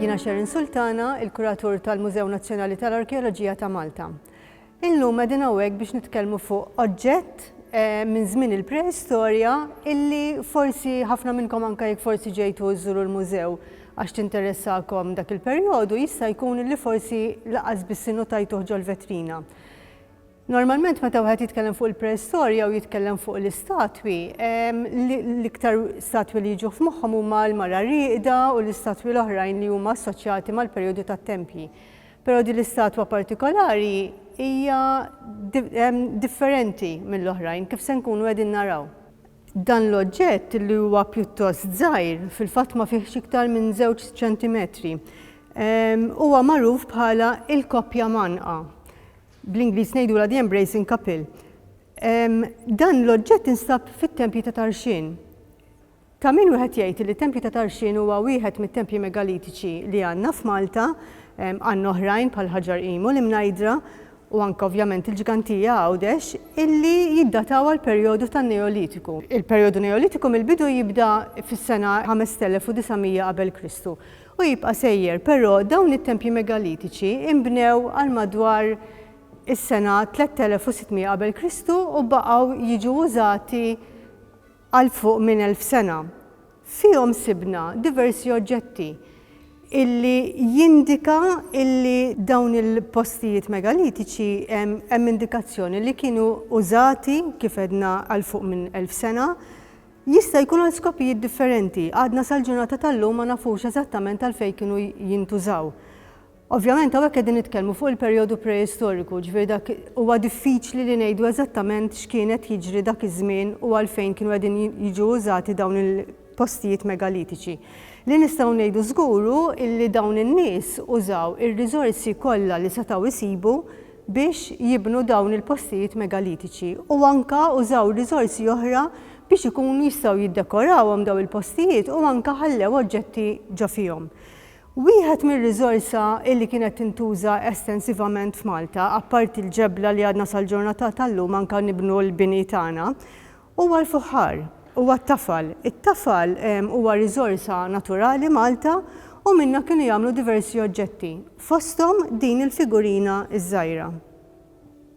Jiena Sharon Sultana, il-kuratur tal-Mużew Nazzjonali tal-Arkeoloġija ta' Malta. Illum qegħdin hawnhekk biex nitkellmu fuq oġġett minn żmien il-preistorja illi forsi ħafna minnkom anke jekk forsi ġejtu żżuru l-mużew għax tinteressakom dak il-perjodu jista' jkun illi forsi laqas biss innutajtuh ġol-vetrina. Normalment meta wieħed jitkellem fuq il-preistorja u jitkellem fuq l-istatwi, l-iktar statwi li jiġu f'moħħhom huma l-mara rieqda u l-istatwi l-oħrajn li huma assoċjati mal-perjodu tat-tempji. Però din l-istatwa partikolari hija differenti mill-oħrajn, kif se nkunu qegħdin naraw. Dan l-oġġett li huwa pjuttost żgħir, fil-fatt ma fihx iktar minn żewġ ċentimetri, huwa magħruf bħala l-koppja mgħannqa, bl-Ingliż ngħidulha the embracing couple. Dan l-oġġett instab fit-tempji ta' Tarxien. Ta' min wieħed jgħid li t-tempju ta' Tarxien huwa wieħed mit-tempji megalitiċi li għandna f'Malta. Għandna oħrajn bħal Ħaġar Qimu, l-Imnajdra u anke ovvjament il-Ġgantija, Għawdex, illi jiddataw għall-perjodu tan-Neolitiku. Il-perjodu Neolitiku mill-bidu jibda fis-sena 5900 qabel Kristu u jibqa' sejjer, però dawn it-tempji megalitiċi inbnew għal madwar is-sena 3600 qabel Kristu u baqgħu jiġu użati għal fuq minn elf sena. Fihom sibna diversi oġġetti illi jindika illi dawn il-postijiet megalitiċi hemm indikazzjoni li kienu użati, kif għedna, għal fuq minn elf sena. Jista' jkun għal skopijiet differenti. Għadna sal-ġurnata tal-lum ma nafux eżattament għalfejn kienu jintużaw. Ovvjament hawnhekk qegħdin nitkellmu fuq il-perjodu preistoriku, ġifieri dak huwa diffiċli li ngħidu eżattament x'kien qed jiġri dak iż-żmien u għalfejn kienu qegħdin jiġu użati dawn il-postijiet megalitiċi. Li nistgħu ngħidu żgur hu li dawn in-nies użaw ir-riżorsi kollha li setgħu jsibu biex jibnu dawn il-postijiet megalitiċi u anke użaw riżorsi oħra biex ikunu jistgħu jiddekorawhom dawn il-postijiet u anke ħallew oġġetti ġo fihom. Wieħed mir-riżorsa illi kienet tintuża estensivament f'Malta, apparti l-ġebla li għadna sal-ġurnata tal-lum anka nibnu l-bini tagħna, huwa l-fuħħar, huwa t-tafal. It-tafal huwa riżorsa naturali Malta u minnha kienu jagħmlu diversi oġġetti, fosthom din il-figurina ż-żgħira.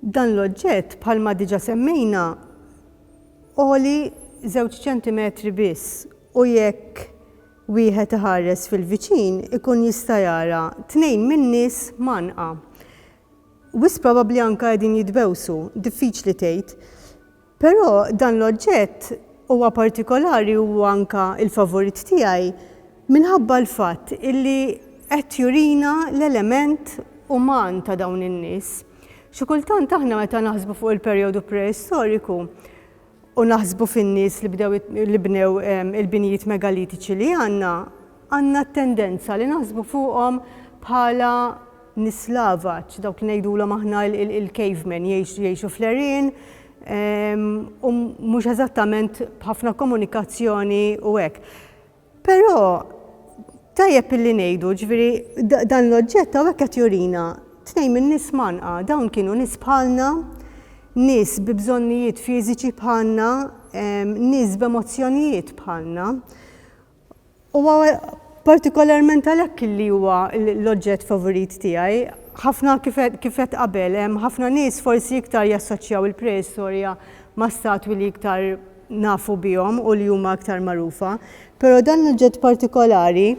Dan l-oġġett, bħalma diġa semmejna, għoli żewġ ċentimetri biss u jekk Wieħed iħares fil-viċin ikun jista' jara tnejn min-nies mgħannqa. Wisq probabbli anke qegħdin jitbewsu, diffiċli tgħid. Però dan l-oġġett huwa partikolari u huwa anke l-favorit tiegħi minħabba l-fatt illi qed jurina l-element uman ta' dawn in-nies. Xi kultant aħna meta naħsbu fuq il-perjodu preistoriku, u naħsbu fin-nies li bdew li bnew il-binjiet megalitiċi li għandna, għandna t-tendenza li naħsbu fuqhom bħala nies lavaċ, dawk li ngħidulhom aħna il-cavemen, jgħixu fl-għerien u mhux eżattament b'ħafna komunikazzjoni u hekk. Però tajjeb illi ngħidu, jiġifieri dan l-oġġett hawnhekk qed jurina tnejn min-nies mgħannqa. Dawn kienu nies bħalna, nies bi bżonnijiet fiżiċi bħalna, nies b'emozzjonijiet bħalna. U partikolarment għalhekk illi huwa l-oġġett favurit tiegħi. Ħafna kif għedt qabel, hemm ħafna nies forsi iktar jassoċjaw il-preistorja ma' statwi li iktar nafu bihom u li huma iktar magħrufa, però dan l-oġġett partikolari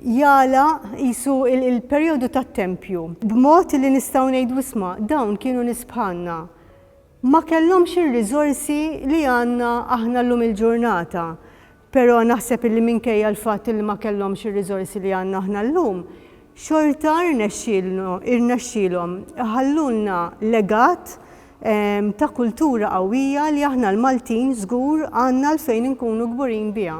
jagħlaq qisu l-perjodu tat-tempju b'mod li nistgħu ngħidu isma' dawn kienu nies bħalna. Ma kellhomx ir-riżorsi li għandna aħna llum il-ġurnata, però naħseb li minkejja l-fatt li ma kellhomx ir-riżorsi li għandna aħna llum, xorta rnexxielhom iħallulna legat ta' kultura qawwija li aħna l-Maltin żgur għandna għalfejn inkunu kburin biha.